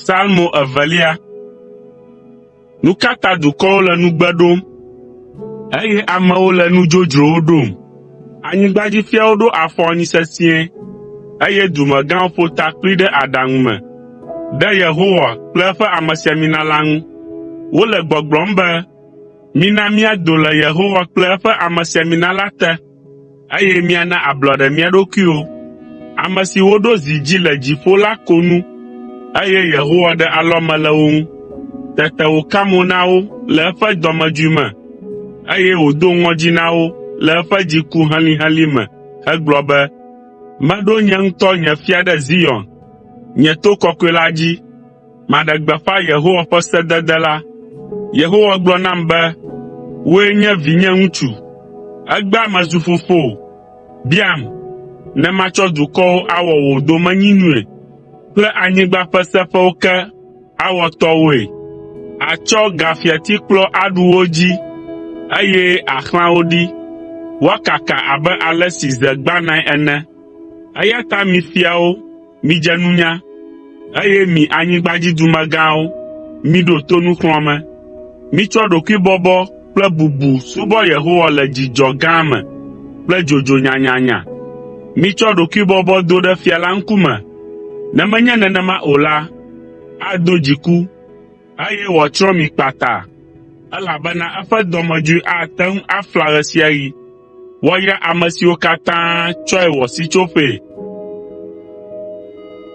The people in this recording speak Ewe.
Salmo evelia. Nu ka ta dukɔwo le nugbe ɖom, eye amewo le nu dzodzrowo ɖom? Anyigbadzifiawo ɖo afɔ anyi sesĩe, eye dumegãwo ƒo ta kpli ɖe aɖaŋu me ɖe Yehowa kple eƒe amesiamina la ŋu. Wole gbɔgblɔm be, “Mina míado le Yehowa kple eƒe amesiamina la te.” eye míana ablɔɖe mía ɖokuiwo. Ame si woɖo zi dzi le dziƒo la ko nu, eye Yehowa ɖe alɔme le wo ŋu. Tete wòka mo na wo le eƒe dɔmedzoe me, eye wòdo ŋɔdzi na wo le eƒe dziku helĩhelĩ me hegblɔ be, “Meɖo nye ŋutɔ nye fia ɖe Zion, nye to kɔkɔe la dzi.” maɖe gbeƒã Yehowa ƒe sedede la. Yehowa gblɔ nam be, “Wòe nye vinye ŋutsu. Egbea mezu fofowò. Biam, ne matsɔ dukɔwo awɔ wò domenyinui kple anyigba ƒe seƒewo ke awɔ tɔwòe. Àtsɔ gafiatikplɔ aɖu wo dzi, eye àxlã wo ɖi, woakaka abe ale si ze gbãnae ene.” Eya ta mi fiawo, Midze nunya, eye mi anyigbadzidumegãwo, miɖo to nuxlɔ̃ame. Mitsɔ ɖokuibɔbɔ kple bubu subɔ Yehowa le dzidzɔ gã me kple dzodzo nyanyanya. Mitsɔ ɖokuibɔbɔ do ɖe fia la ŋkume, ne menye nenema o la, ado dziku, eye wòatsrɔ̃ mi kpata, elabena eƒe dɔmedzoe ate ŋu afla ɣesiaɣi. Woayra ame siwo katã tsɔe wɔ sitsoƒee.